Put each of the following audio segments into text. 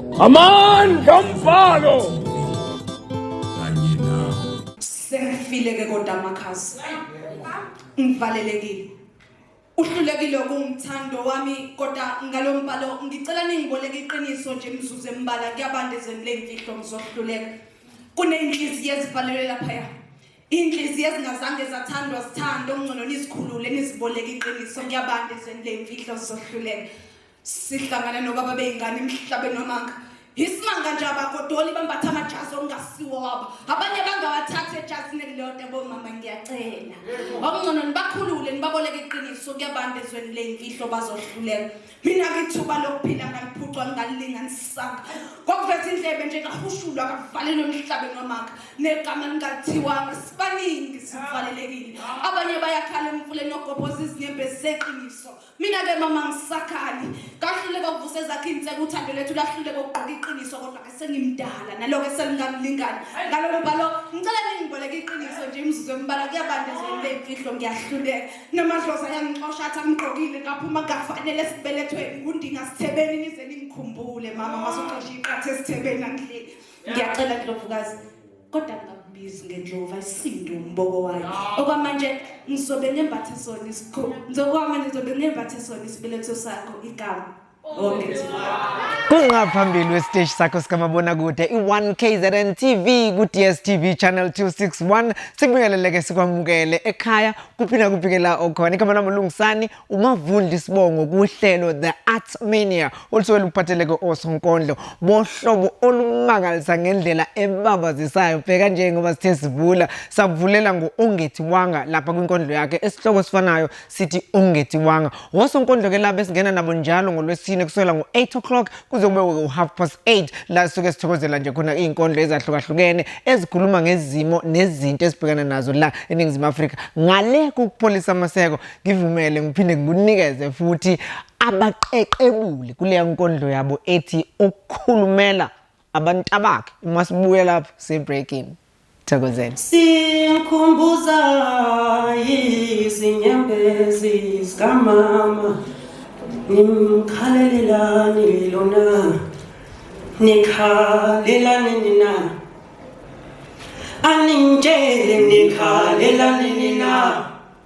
Amandla omfalo. Kanye nawe. Sengifile ke kodwa amakhasi. Ngivalelekile. Uhlulekile kumthando wami kodwa ngalombhalo ngicela ningiboleke iqiniso nje mzuzu embala kuyabanda ezweni lemfihlo ngizohluleka. Kunenhliziyo ezivalelwe lapha ya. Inhliziyo ezingazange zathandwa sithando ngcono nizikhulule niziboleke iqiniso kuyabanda ezweni lemfihlo sizohluleka. Sihlangane nobaba beyingane emhlabeni wamanga. Isimanga nje abagodoli bambatha amajazi okungasiwo wabo. Abanye bangawathatha ejazini elilodwa bomama ngiyacela. Okungcono nibakhulule nibaboleke iqiniso kuyabanda ezweni leyimfihlo bazohluleka. Mina ngithuba lokuphila ngaliphucwa ngalilinganisanga. Kokuveza indlebe nje kahushulwa kavalelwe emhlabeni wamanga. Negama lingathiwanga sibaningi sivalelekile. Abanye bayakhala emfuleni ogobhoza izinyembezi zeqiniso. mina ke mama ngisakhali kahluleka ukuvusa ezakhe inseke uthando lethu lahluleka ukugqoka iqiniso kodwa ke sengimdala naloke selingamlingani ngalolo bhalo ngicela ningiboleke iqiniso nje imzuzu embala kuyabanda ezweni leyimfihlo ngiyahluleka namadlozi ayangixosha athi angigqokile ngaphuma kafanele esibelethweni ngundinga sithebeni nize ningikhumbule mama masuxosha iqatha esithebeni angidleki ngiyacela ndlovukazi kodwa ngingambizi ngendlova isindu umboko wayo okwamanje ngizobe ngembathe sona isikho ngizokwamanje ngizobe ngembathe sona isibeletho sakho igama kungaphambili wesiteshi sakho sikamabonakude i-1 kzn tv ku-dstv channel 261 sikubingeleleke sikwamukele ekhaya kuphi nakuphi ke la okhona igama lami ulungisani umavundi sibongo kuhlelo the arts mania olusuke luphatheleke osonkondlo bohlobo olumangalisa ngendlela ebabazisayo bheka nje ngoba sithe sivula savulela ngo-ongethi wanga lapha kwinkondlo yakhe esihloko esifanayo sithi ongethi wanga wosonkondlo ke laba esingena nabo njalo ngolwesine kusukela ngo-8 o'clock kuze kube u-half past 8 la sisuke sithokozela nje khona iy'nkondlo ezahlukahlukene ezikhuluma ngezimo nezinto esibhekana nazo la eningizimu afrika ngale kokupholisa amaseko ngivumele ngiphinde ngikunikeze futhi abaqeqebuli kuleya nkondlo yabo ethi ukukhulumela abantu abakhe uma sibuye lapho sibreaking thokozeni sikhumbuza izinyembezi zikamama nimkhalelelani lona nikhalelani nina aningitshele nikhalelani nina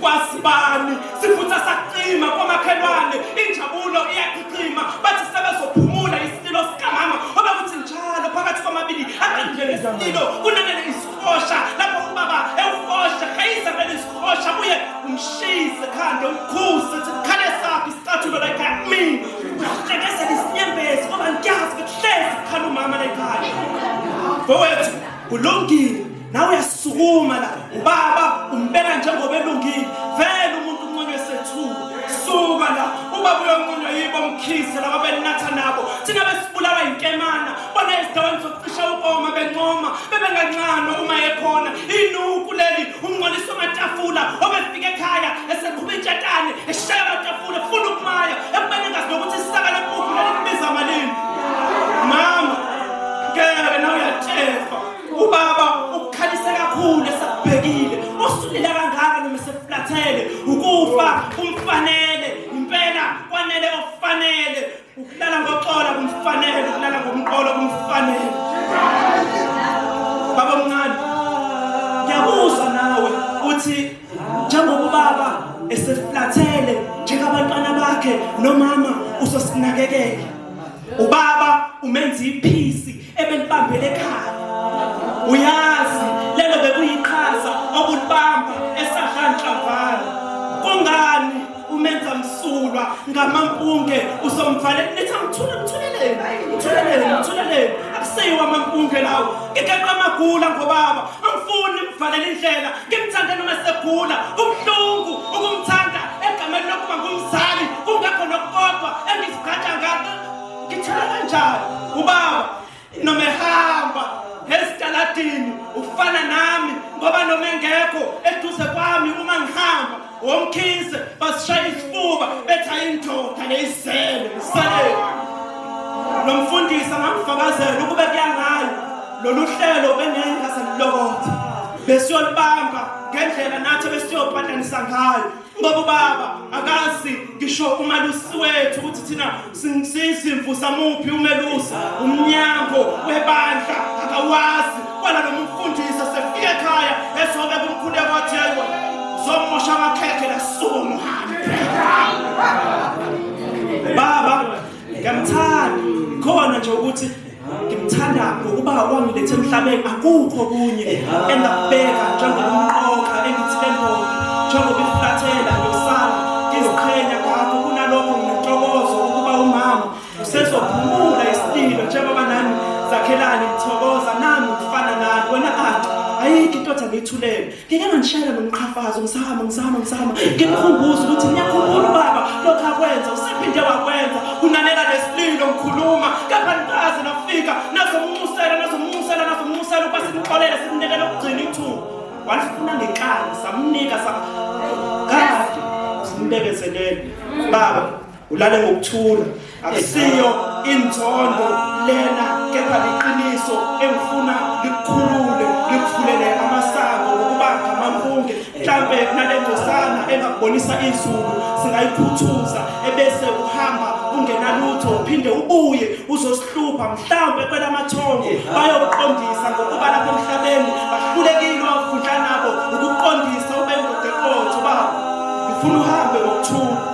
kwasibani sifutha saqima komakhelwane injabulo iyaqhiqima bathi sebezophumula isililo sikamama obekuthi njalo phakathi kwamabili akanjele isililo kunanele isihosha lapho ubaba ewuhosha khayisa vele isihosha buye umshise khande umkhuze ukuthi khale sakho isicathulo la ekhaya kumina uhlekesela isinyembezi ngoba ngiyazi ukuthi hlezi kukhala umama la ekhaya mfowethu kulungile nawe uyasukuma la ubaba umbeka njengoba elungile vele umuntu unconywe sethuko suka la ubaba uyonconywa yibo mkhise laba belinatha nabo thina besibulawa yinkemana bona ezindaweni zokucisha ukoma bencoma bebengancanwa uma ekhona inuku leli umnqolisa amatafula obefika ekhaya eseqhuba intshatane eshaya amatafula funa ukumaya ekubeni engazi nokuthi isaka lepuphu lelibiza malini mama ngeke nawe uyatshefa Ubaba ukukhalise kakhulu esakubhekile osulile kangaka noma eseflathele ukufa kumfanele impela kwanele okufanele ukulala ngoxola kumfanele ukulala ngomqolo kumfanele baba mncane ngiyabuza nawe uthi njengoba ubaba eseflathele njengabantwana bakhe nomama usosinakekela ubaba umenza iphisi ebelibambele ekhaya uyazi lelo bekuyiqhaza obulibamba esadlanhlamvana kungani umenza msulwa ngamampunge uzomvale nithi angithule ngithuleleni ngithuleleni ngithuleleni akuseyiwa amampunge lawo ngigeqa amagula ngobaba angifuni mvalele indlela ngimthande noma segula ubuhlungu ukumthanda egameni lokuba ngumzali kungakho nokukodwa engizigqaja ngakho ngithela kanjani ubaba noma ehamba ezitaladini ufana nami ngoba noma engekho eduze kwami uma ngihamba womkhise basishaya isifuba bethi ayindoda leyizele ngisalele lo mfundisi angamfakazela ukube kuyangayo lolu hlelo bengengaselilokotha besiyolibamba ngendlela nathi besiyobhatanisa ngayo Ngoba ubaba akazi ngisho umalusi wethu ukuthi thina sizimvu samuphi umelusi umnyango webandla akawazi kwala nomfundisi sefike ekhaya esobe kumkhulu kwathi yebo zomosha amakhekhe lasuku muhambe baba Ngiyamthanda khona nje ukuthi ngimthanda ngokuba wangilethe emhlabeni akukho kunye engakubeka njengomqoka engithembo njengoba iflathela yosana ngiziqhenya ngakho kunalokho nginentokozo ukuba umama usezophumula isililo njengoba nami zakhelani ngithokoza nami ngifana nani wena anti ayikho intoda ngiyithulele ngeke ngangishayela nomqhafazo ngisahamba ngisahamba ngisahamba ngimkhumbuza ukuthi ngiyakhumbula ubaba lokhu akwenza usephinde wakwenza kunanela nesililo ngikhuluma kepha nikaze nafika nazomnxusela nazomnxusela nazomnxusela ukuba simxolele simnikele ukugcina ithuba walifuna ngenkani samnika sa kade simbekezelele baba ulale ngokuthula akusiyo inzondo lena kepha liqiniso engifuna likukhulule likuvulele amasango ngokuba ngamampunge mhlampe nale ndosana engakubonisa izulu singayiphuthuza ebese uhamba ungenalutho uphinde ubuye uzosihlupha mhlampe kwelamathongo bayoqondisa ngokuba lapha emhlabeni bahlulekile wavundla nabo ukuqondisa ubendoda eqotho baba ngifuna uhambe ngokuthula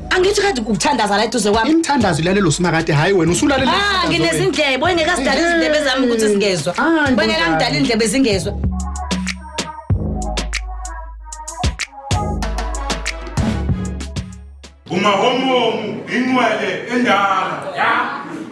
angithi kade ukuthandaza la eduze kwami imthandazo ilalelo simakade hayi wena usulalela ah nginezindlebe wengeke sidala izindlebe zami ukuthi zingezwa wengeke angidala indlebe zingezwa umahomomu inqwele endala ya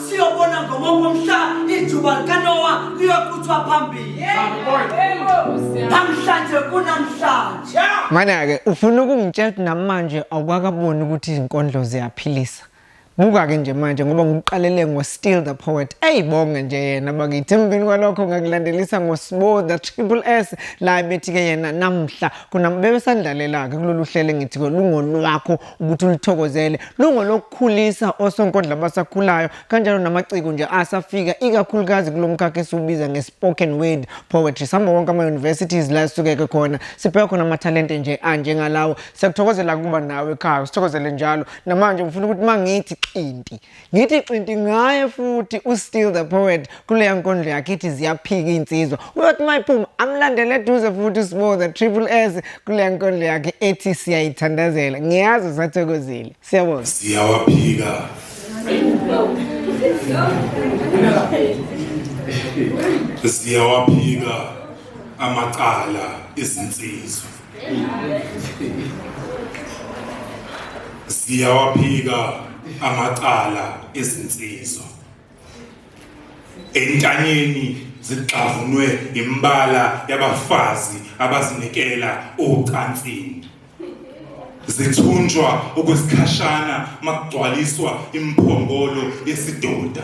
siyobona ngomongo omhla ijuba likanowa liyoquthwa phambili namhlanje kunamhlanje mana-ke ufuna ukungitshela ukuthi namanje awukakaboni ukuthi izinkondlo ziyaphilisa buka-ke nje manje ngoba ngikuqalele ngo-still the poet eyibonge nje yena bakithi emveni kwalokho ngakulandelisa ngosibo the triple s la bethi-ke yena namhla kunabebesandlalela-ke kulolu hlelo engithi-ke lungolwakho ukuthi ulithokozele lungolokukhulisa osonkondla abasakhulayo kanjalo namaciko nje asafika ikakhulukazi kulo mkhakha esiwubiza nge-spoken word poetry sihamba wonke ama-universities la esukeke khona sibheka khona amathalente nje anjengalawo siyakuthokozela kuba nawe ekhaya sithokozele njalo namanje ngifuna ukuthi uma ngithi xinti ngithi xinti ngaye futhi ustill the poet kuleya nkondlo yakhe ithi ziyaphika iy'nsizwa uyothi uma iphuma amlandele eduze futhi usibo the triple s kuleya nkondlo yakhe ethi siyayithandazela ngiyazi usathokozile siyabona siyawaphika siyawaphika amacala ezinsizwa ziyawaphika amacala ezinsizwa entanyeni zigxavunwe imbala yabafazi abazinikela ocansini zithunjwa okwesikhashana makugcwaliswa imphongolo yesidoda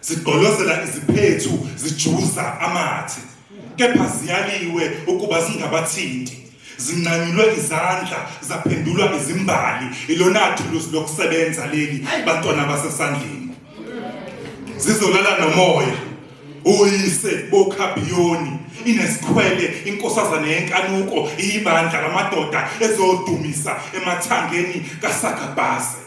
zigqolozela iziphethu zijuza amathe kepha ziyaliwe ukuba zingabathinti zinqanyulwe izandla zaphendulwa izimbali ilona thuluzi lokusebenza leli bantwana basesandleni zizolala nomoya uyise bokhabiyoni inesikhwele inkosazane yenkanuko iyibandla lamadoda ezodumisa emathangeni kasagabhase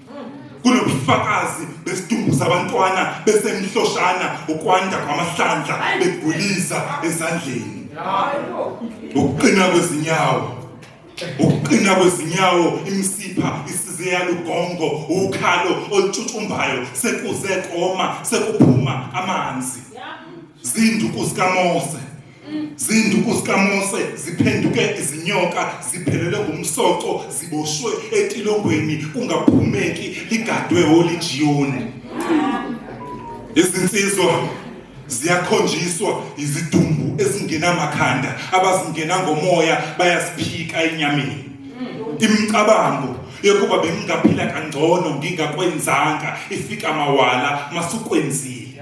kunobufakazi besidumbu sabantwana besemhloshana ukwanda kwamahlandla begulisa ezandleni ukuqina kwezinyawo ukuqina kwezinyawo imsipha isize yalugongo ukhalo olutshutshumbayo sekuze koma sekuphuma amanzi zinduku zikaMose Zinduku zikaMose ziphenduke izinyoka, ziphelele ngomsoco, ziboshwe etilongweni kungaphumeki, ligadwe oLijiyoni. Izinsizwa ziyakhonjiswa izidumbu ezingenamakhanda abazingena ngomoya bayaziphika enyameni imicabango yokuba bengingaphila kangcono ngingakwenzanga ifika mawala masukwenzile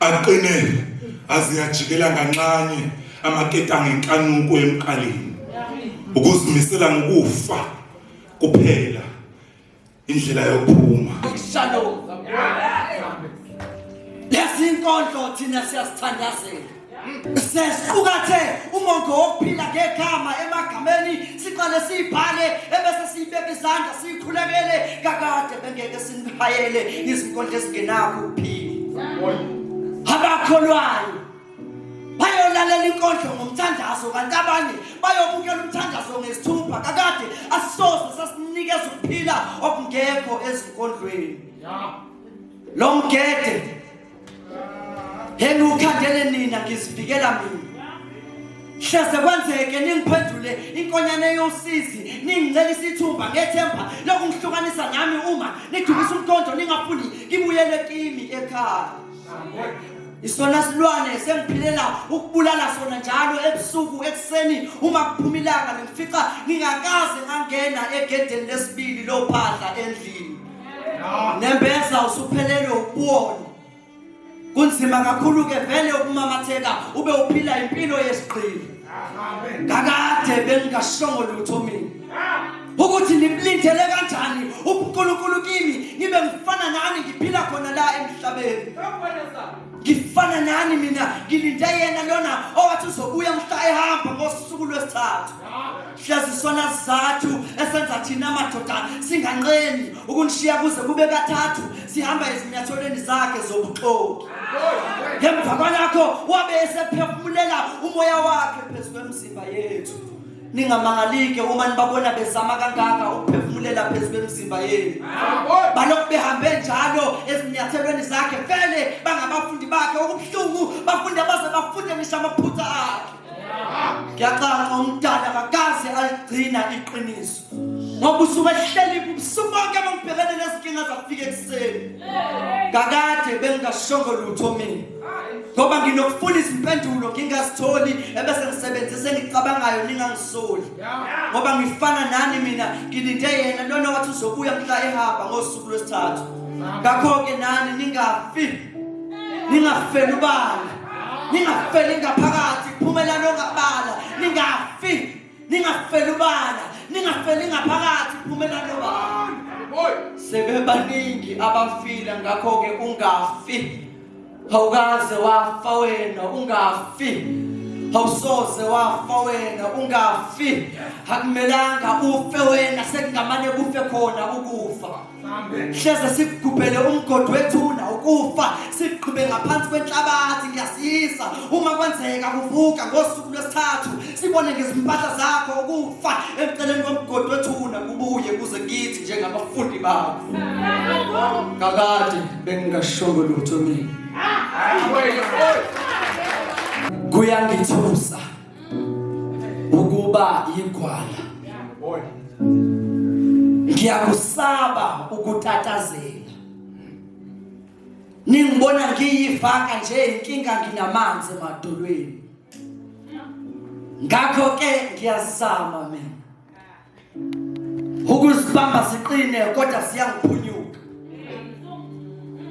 Aqine aziyajikela nganxanye amaketanga enkanuko emqaleni. Ukuzimisela ngokufa kuphela indlela yokuphuma. Shalom. Lezi inkondlo thina siyasithandazela. Sesiqukathe umongo wokuphila ngegama emagameni siqale sibhale ebese sibeka izandla sikhulekele kakade bengeke sinihayele izinkondlo ezingenakho ukuphila. Abakholwayo bayolalela inkondlo ngomthandazo kanti abanye bayobukela umthandazo ngesithupha kakade asisoze sasinikeza ukuphila okungekho ezinkondlweni. Lo mgede yena ukhandele nina ngizivikela mina hleze kwenzeke ningiphendule inkonyane yosizi ningicela isithumba ngethemba lokungihlukanisa nami uma nidukisa umkhondo ningafuni ngibuyele kimi ekhaya isona silwane sengiphilela ukubulala sona njalo ebusuku ekuseni uma kuphuma ilanga ngifica ngingakaze ngangena egedeni lesibili lophahla endlini nembeza usuphelelwe uboni kunzima kakhulu ke vele ukumamatheka ube uphila impilo yesigqili kakade bengingashongo lutho mina ukuthi nimlindele kanjani uNkulunkulu kimi ngibe ngifana nani ngiphila khona la emhlabeni ngifana nani mina ngilinde yena lona owathi uzobuya mhla ehamba ngosuku lwesithathu hlezi isona sizathu esenza thina madoda singanqeni ukunishiya kuze kube kathathu sihamba ezinyathelweni zakhe zobuxoki ngemva kwalakho wabe esephefumulela umoya wakhe phezu kwemizimba yethu ningamangalike uma nibabona bezama kangaka ukuphefumulela phezu kwemizimba yenu balokhu behambe njalo ezinyathelweni zakhe vele bangabafundi bakhe okubuhlungu bafunde baze bafunde ngisho amaphutha akhe ngiyacaca umdala kakaze aligcina iqiniso ngoba usuke ehleli ubusuku bonke bangibhekene nezinkinga zafika ekuseni kakade bengingashongo lutho mina ngoba nginokufuna izimpendulo ngingazitholi ebese ngisebenzise engicabangayo ningangisoli ngoba ngifana nani mina ngilinde yena lona wathi uzobuya mhla ehamba ngosuku lwesithathu ngakho-ke nani ningafi ningafeli ubala ningafeli ngaphakathi phumelani ongabala ningafi ningafeli ubala ningafeli ngaphakathi phumelani obala sebebaningi abafile ngakho-ke ungafi awukaze wafa wena ungafi awusoze wafa wena ungafi akumelanga ufe wena sekungamane kufe khona ukufa hleze sikugubhele umgodi wethuna ukufa sigqube ngaphansi kwenhlabathi ngiyasisa uma kwenzeka kuvuka ngosuku lwesithathu sibone ngezimpahla zakho ukufa emceleni komgodi wethuna kubuye kuze kithi njengabafundi bakho kakade bengingashongo lutho mina kuyangithusa ukuba yigwala ngiyakusaba ukutatazela ningibona ngiyivaka nje inkinga nginamanzi emadolweni ngakho ke ngiyazama mina ukuzibamba siqine kodwa siyangiphunyuka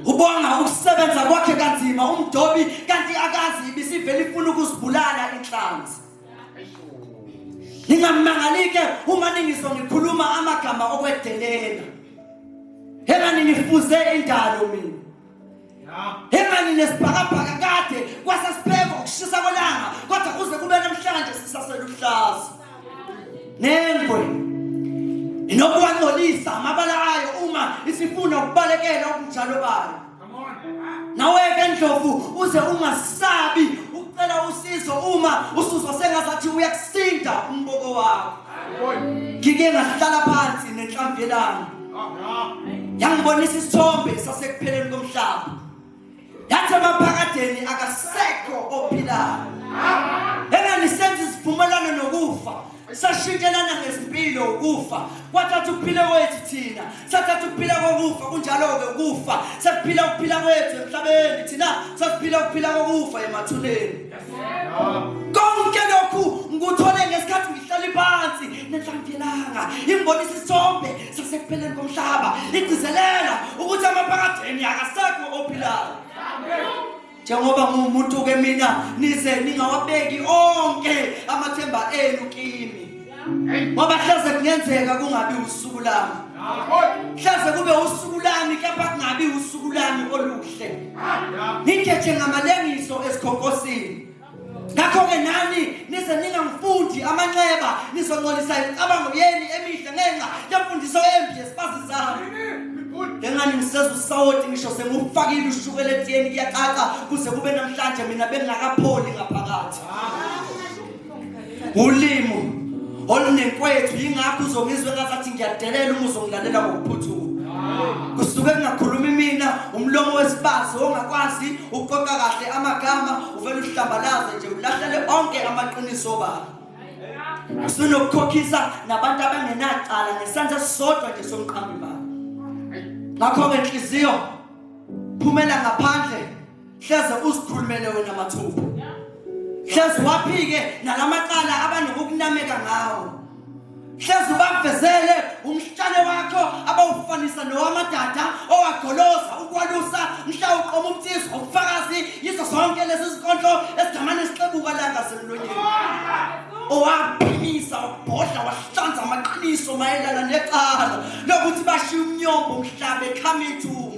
ubonga ukusebenza kwakhe kanzima umdobi kanti akazi ibisivele ifuna ukuzibulala inhlanzi ningamangalike uma ningiso ngikhuluma amagama okwedelela hela ninifuze indalo mina Hemani nesibhakabhaka kade kwase sibheka ukushisa kwelanga kodwa kuze kube namhlanje sisaseluhlaza. Nengwe inokuwangcolisa amabala ayo uma isifuna ukubalekela ubunjalo bayo. Nawe ke ndlovu uze ungasabi ucela usizo uma usuzwa sengazathi uyakusinda umboko wakho. ngike ngahlala phansi nenhlamvu yelanga yangibonisa isithombe sasekupheleni komhlaba yathi emaphakadeni akasekho ophilayo enganisenza isivumelwano nokufa sashintshelana ngezimpilo ukufa kwathatha ukuphila kwethu thina sathatha ukuphila kokufa kunjalo-ke ukufa sekuphila ukuphila kwethu emhlabeni thina sasiphila ukuphila kokufa emathuneni konke lokhu ngikuthole ngesikhathi ngihlale phansi nenhlangelanga imbonisa isithombe sasekupheleni komhlaba igcizelela ukuthi amaphakadeni akasekho ophilayo njengoba ngumuntu ke mina nize ningawabeki onke amathemba enu kimi ngoba hlaze kungenzeka kungabi usuku lami hlaze kube usuku lami kepha kungabi usuku lami oluhle ngigeje ngamalengiso esikhonkosini ngakho-ke nani nize ningamfundi amanxeba nizoncolisa imicabango yeni emihle ngenxa yemfundiso embi yesibazi zami ngengani ngiseza usawoti ngisho sengufakile ushukela etiyeni kuyacaca kuze kube namhlanje mina bengingakapholi ngaphakathi ulimo olunekwethu yingakho uzongizwe ngazathi ngiyadelela uma uzongilalela ngokuphuthuma kusuke kungakhulumi mina umlomo wesibazi ongakwazi ukuqoqa kahle amagama uvele uhlambalaze nje ulahlele onke amaqiniso baba sinokukhokhisa nabantu abangenacala ngesandla sisodwa nje somqambi baba ngakho-ke nhliziyo phumela ngaphandle hleze uzikhulumele wena mathupha hleze waphike nalamacala abantu ngokunameka ngawo hleze ubavezele umhlale wakho abawufanisa nowamadada owagoloza ukwalusa mhla uqoma umthizo ubufakazi yizo zonke lezi zinkondlo ezigamane sixebuka langa semlonyeni owaphimisa wabhodla wahlanza amaqiniso mayelana necala lokuthi bashiye umnyombo umhlaba ekhama ithumba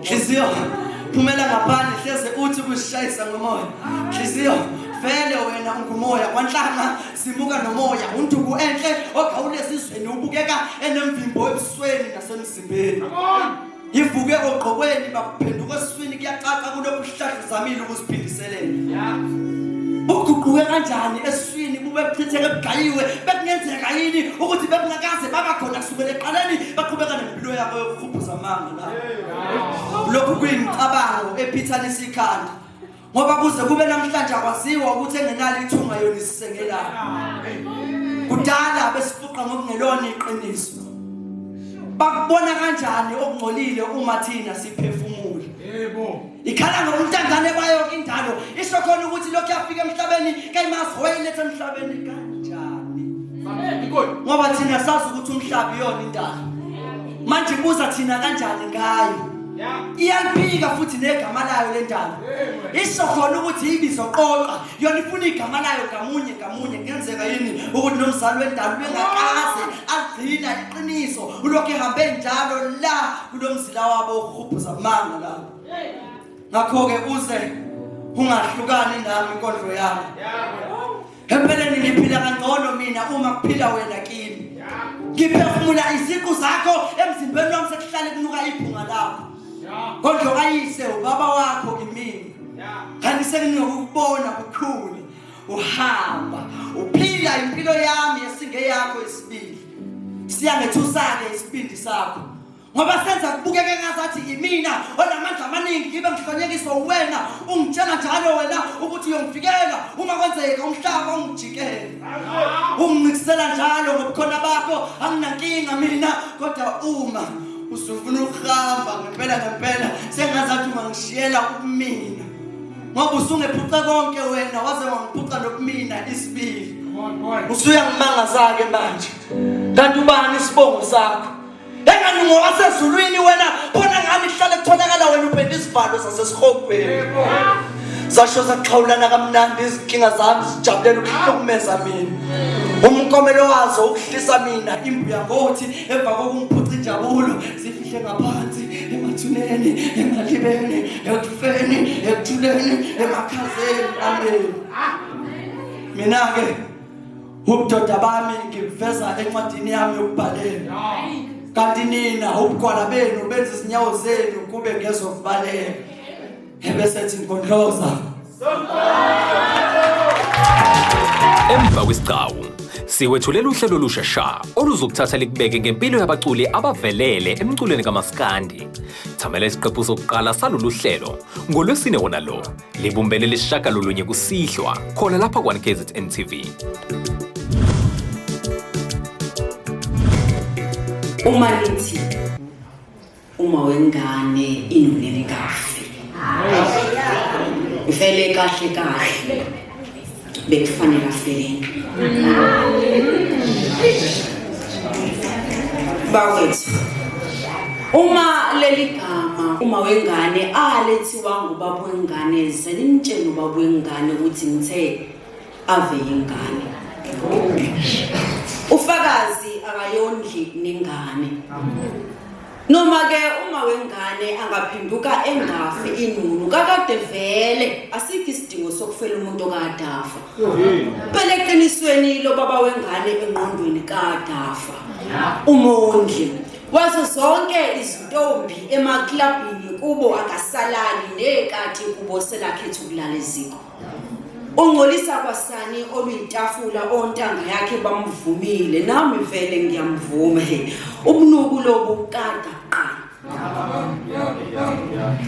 Nhliziyo phumela ngaphandle hleze uthi kusishayisa ngomoya. Nhliziyo vele wena ungumoya kwanhlanga simuka nomoya unduku enhle ogawulezizweni ubukeka enemvimbo ebusweni nasemzimbeni. Yivuke ogqokweni bakuphenduka eswini kuyacaca kulokhu sihlahla zamile ukusiphindiselela. Yeah. uguquke kanjani eswini bube buchitheke bugayiwe bekungenzeka yini ukuthi bebungakaze baba khona kusukela eqaleni baqhubeka nempilo yabo yokukhuphuza amanga lokhu kuyimicabango ephithanisa ikhanda ngoba kuze kube namhlanje akwaziwa ukuthi engenalo ithunga yona isisengelana kudala besifuqa ngokungelona iqiniso bakubona kanjani okungcolile uma thina siphefumula yebo ikhala ngobuntandane bayo indalo isho khona ukuthi lokhu yafika emhlabeni kayimazi wayiletha emhlabeni kanjani ngoba thina sazi ukuthi umhlaba iyona indalo manje ibuza thina kanjani ngayo iyaliphika futhi negama layo le ndalo isho khona ukuthi ibizoqoqa yona ifuna igama layo ngamunye ngamunye kuyenzeka yini ukuthi nomzali wendalo bengakaze agcina iqiniso ulokhu ehambe njalo la kulomzila wabo uhubhuza manga la ngakho-ke uze ungahlukani nami inkondlo yami empeleni ngiphila kangcono mina uma kuphila wena kimi ngiphefumula iziqu zakho emzimbeni wami sekuhlale kunuka ibhunga lakho kodwa kayise ubaba wakho kimina kanti senginokukubona kukhulu uhamba uphila impilo yami esingeyakho isibili siyangethusa-ke isibindi sakho ngoba senza kubukeke ngazathi yimina onamandla amaningi ngibe ngihlonyekiswa uwena ungitshela njalo wena ukuthi uyongivikela uma kwenzeka umhlaba ungijikele ungincikisela njalo ngobukhona bakho anginankinga mina kodwa uma usufuna ukuhamba ngempela ngempela sengazathi ungangishiyela ukumina ngoba usungephuca konke wena waze wangiphuca nokumina isibili usuyangimangazake manje kanti ubani isibongo sakho engani ngowasezulwini wena khona ngani kuhlale kutholakala wena upenda isivalo sasesihogweni zasho zaxhawulana kamnandi izinkinga zami zijabulela ukuhlukumeza mina umkomelo wazo ukuhlisa mina imbuya ngothi emva kokungiphuca injabulo zifihle ngaphansi emathuneni emalibeni ekufeni ekuthuleni emakhazeni ameni mina-ke Ubudoda bami ngibuveza encwadini yami yokubhalela. Kanti nina ubugwala benu benza izinyawo zenu kube ngezokubaleka. Ebese thi ngondloza. Emva kwesigcawu siwethulela uhlelo olusha sha oluzokuthatha likubeke ngempilo yabaculi abavelele emculweni kamaskandi. Thamela isiqephu sokuqala salolu hlelo ngolwesine wona lo. Libumbene lisishagalolunye kusihlwa khona lapha kwa-KZN TV. Uma lithi uma wengane inonelikazi. Ifele kahle kahle. bekufanele afeleni bawethu uma leli gama uma wengane alethiwa ngubaba wengane ze nimtshele ubaba wengane ukuthi ngithe ave yingane ufakazi akayondli nengane noma ke uma wengane angaphenduka engafi inunu kakade vele asikho isidingo sokufela umuntu okadafa phela eqinisweni lo baba wengane engqondweni kadafa umondli wazo zonke izintombi emaklabhini kubo akasalali nekathi kubo selakhetha ukulala eziko ungcolisa kwasani oluyitafula ontanga yakhe bamvumile nami vele ngiyamvuma he ubunuku lobu kada qa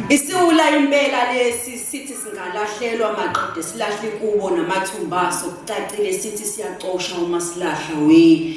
isiwula impela lesi sithi singalahlelwa maqede silahle kubo namathumbaso kucacile sithi siyacosha uma silahla we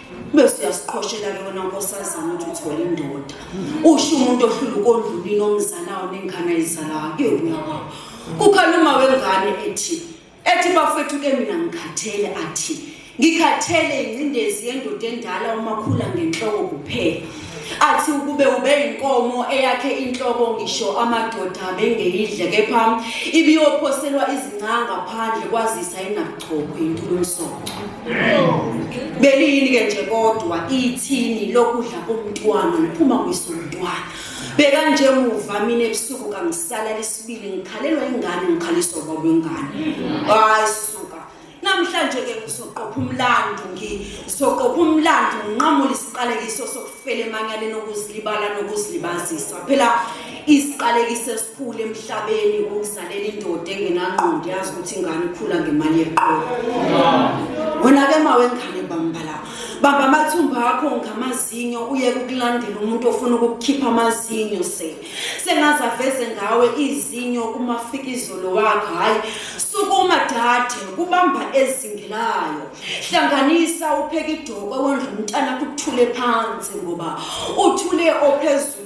bese uyasiqhoshela-ke wena nkosazana ukuthi uthole indoda usho umuntu ohlula ukondlulini omzalayo nengane ayizalayo ebuya kwawo kukhala uma wengane ethi ethi bafethu ke mina ngikhathele athi ngikhathele ingcindezi yendoda endala umakhula ngenhloko kuphela athi ukube ube inkomo eyakhe inhloko ngisho amadoda bengeyidle kepha ibiyophoselwa izincanga phandle kwazisa inabo Chobo yintula umsoco. Beliyini ke nje kodwa ithini lokudla komntwana liphuma kwisomntwana. Beka nje muva mina ebusuku kangisala lesibili ngikhalelwa ingane ngikhaliswa baba ingane. Hayi suka. Namhlanje ke ngizoqopha umlando ngizoqopha umlando nginqamule isiqalekiso sokufela emanyaleni okuzilibala nokuzilibazisa. Phela isiqalekiso Khule emhlabeni ungisalele indoda engenangqondo yazi ukuthi ingane ikhula ngemali yeqolo. Wena ke mawe ngane bambala. Baba amathumba akho ngamazinyo uye ukulandela umuntu ofuna ukukhipha amazinyo se. Sengaza veze ngawe izinyo uma fika izolo wakho hayi sukuma dade kubamba ezingelayo. Hlanganisa upheke idoko wondla umntana kuthule phansi ngoba uthule ophezulu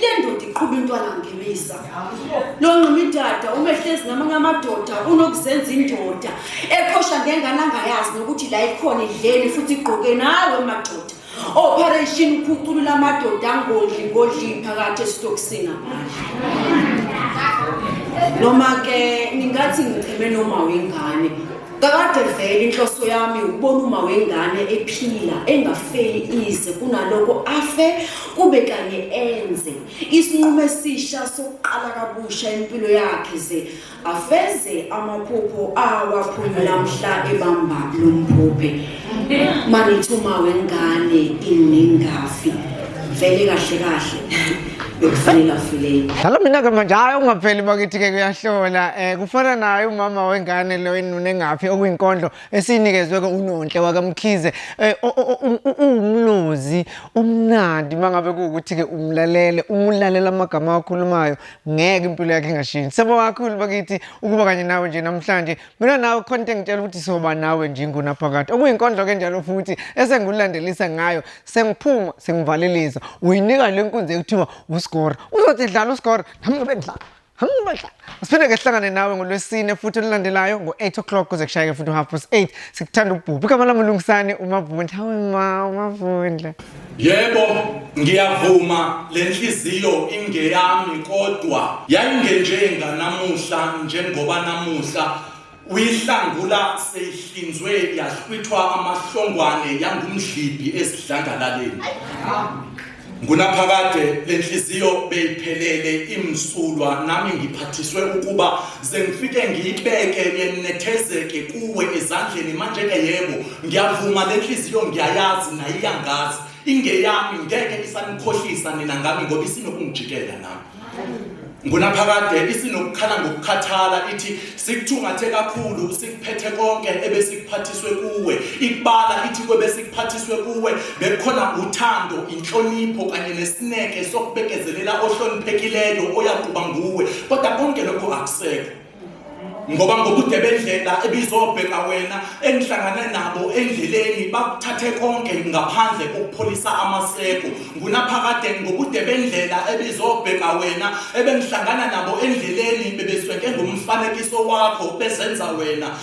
le ndoda iqhuba intwana ngilisa lo nqumidada umehlezi namanye amadoda unokuzenza indoda eqhosha ngengane angayazi nokuthi la ikhona idleni futhi igqoke nawe madoda operation ukhuculula amadoda angodli ngodli phakathi esitokisini amandla noma-ke ningathi ngicheme noma wengane Kakade vele inhloso yami ukubona uma wengane ephila engafeli ize kunaloko afe kube kanye enze isinqumo esisha sokuqala kabusha impilo yakhe ze afeze amaphupho awaphumula mhla ebamba lomphuphe marithi uma wengane inengafi vele kahle kahle bekufanele afileni dlala mina ke manje hayi ungapheli bakithi-ke kuyahlola um eh, kufana naye umama wengane lo enunengaphi okuyinkondlo esiyinikezwe-ke unonhle wakamkhize um uwumlozi umnandi uma ngabe kuwukuthi-ke umlalele umulalela amagama awakhulumayo ngeke impilo yakhe ingashintshi sebo kakhulu bakithi ukuba kanye nawe nje namhlanje Mina nawe khona into engitshela ukuthi soba nawe nje ingunaphakade. Okuyinkondlo ke njalo futhi esengulandelisa ngayo sengiphuma sengivalelisa. Uyinika le nkunzi ekuthiwa uScore. Uzothi dlala uScore nami ngibe ngidlala. Siphinde ke sihlangane nawe ngolwesine futhi olulandelayo ngo-8 o'clock kuze kushayeke futhi u-half past 8 sikuthanda ubhubhi igama lami ulungisane umavundla hawe ma umavundla Yebo, ngiyavuma le nhliziyo ingeyami kodwa yayingenjenga namuhla njengoba namuhla uyihlangula seyihlinzwe yahlwithwa amahlongwane yangumdlibhi esidlangalaleni. Ngunaphakade le nhliziyo beyiphelele imsulwa nami ngiphathiswe ukuba sengifike ngiyibeke yenethezeke kuwe ezandleni manje-ke yebo ngiyavuma le nhliziyo ngiyayazi naye iyangazi ingeyami ngeke isanikhohlisa nina ngami ngoba isinokungijikela nami ngunaphakade isinokukhala ngokukhathala ithi sikuthungathe kakhulu sikuphethe konke ebesikuphathiswe kuwe ikubala ithi kwebesikuphathiswe kuwe bekukhona uthando inhlonipho kanye nesineke sokubekezelela ohloniphekileyo oyakuba nguwe kodwa konke lokho akusekho ngoba ngobude bendlela ebizobheka wena engihlangane nabo endleleni bakuthathe konke ngaphandle kokupholisa amaseko ngunaphakade ngobude bendlela ebizobheka wena ebengihlangana nabo endleleni bebesweke ngomfanekiso wakho bezenza wena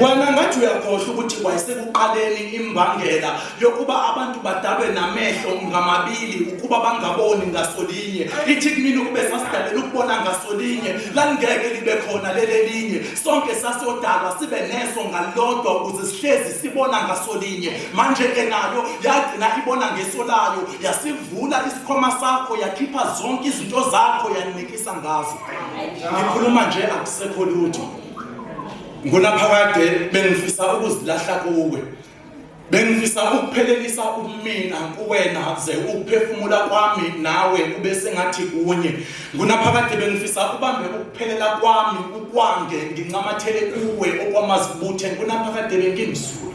wena ngathi uyakhohlwa ukuthi kwayisekuqaleni imbangela yokuba abantu badalwe namehlo ngamabili ukuba bangaboni ngasolinye ithi kumina ukube sasidalela ukubona ngasolinye lalingeke libe khona lelelinye sonke sasodalwa sibe neso ngalodwa ukuze sihlezi sibona ngasolinye manje-ke nayo yagcina ibona ngeso layo yasivula isikhwama sakho yakhipha zonke izinto zakho yanika ngifisa ngazo ngikhuluma nje akusekho lutho ngunaphakade bengifisa ukuzilahla kuwe bengifisa ukuphelelisa umina kuwena ze ukuphefumula kwami nawe kube sengathi kunye ngunaphakade bengifisa ubambe ukuphelela kwami ukwange ngincamathele kuwe okwamazibuthe ngunaphakade bengimsulwa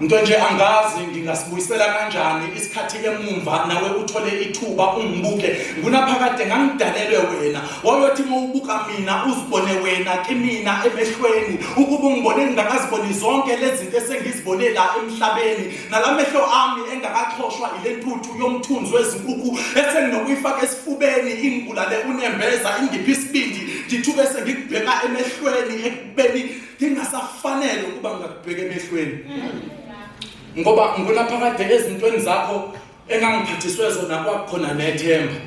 Nto nje angazi ngingasibuyisela kanjani isikhathi emumva nawe uthole ithuba ungibuke ngunaphakade ngangidalelwe wena wayothi uma ubuka mina uzibone wena kimina emehlweni ukuba ungibone ngingakaziboni zonke lezi zinto esengizibone la emhlabeni nala mehlo ami engakaxhoshwa ile ntuthu yomthunzi wezinkukhu esenginokuyifaka esifubeni ingibulale unembeza ingiphi isibindi ngithuke sengikubheka emehlweni ekubeni ngingasafanele ukuba ngakubheka emehlweni ngoba ngibona phakade ezintweni zakho engangiphathiswe zona kwakukhona nethemba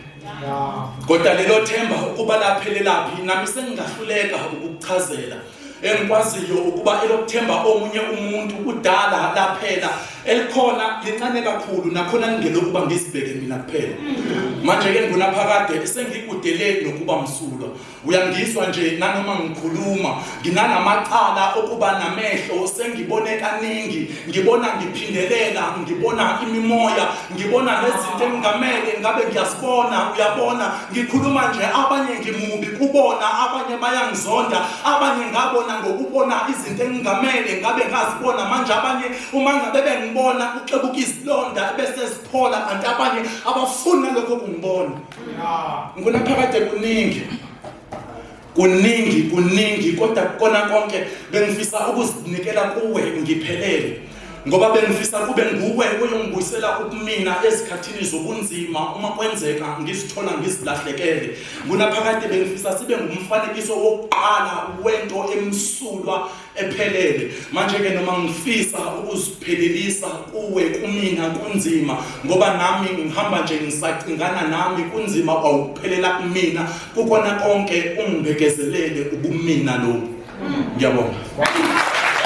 kodwa lelo themba ukuba laphelelaphi nami sengingahluleka ukukuchazela engikwaziyo ukuba elokuthemba omunye umuntu kudala laphela elikhona lincane kakhulu nakhona ningelokuba ngizibheke mina kuphela manje-ke ngunaphakade sengikudeleni nokuba msulwa uyangizwa nje nanoma ngikhuluma nginanamacala okuba namehlo sengibone kaningi ngibona ngiphindelela ngibona imimoya ngibona nezinto engingamele ngabe ngiyasibona uyabona ngikhuluma nje abanye ngimubi kubona abanye bayangizonda abanye ngabona ngokubona izinto engingamele ngabe ngazibona manje abanye uma ngabe bengibona uxebuka izilonda bese ziphola kanti abanye abafuni nalokho kungibona ngifuna phakade kuningi kuningi kuningi kodwa kukona konke bengifisa ukuzinikela kuwe ngiphelele ngoba bengifisa kube nguwe oyongibuyisela ukumina ezikhathini zobunzima uma kwenzeka ngizithola ngizilahlekele kunaphakade bengifisa sibe ngumfanekiso wokuqala wento emsulwa ephelele manje-ke noma ngifisa ukuziphelelisa kuwe kumina kunzima ngoba nami ngihamba nje ngisacingana nami kunzima kwawukuphelela kumina kukona konke ungibhekezelele ubumina lobu ngiyabonga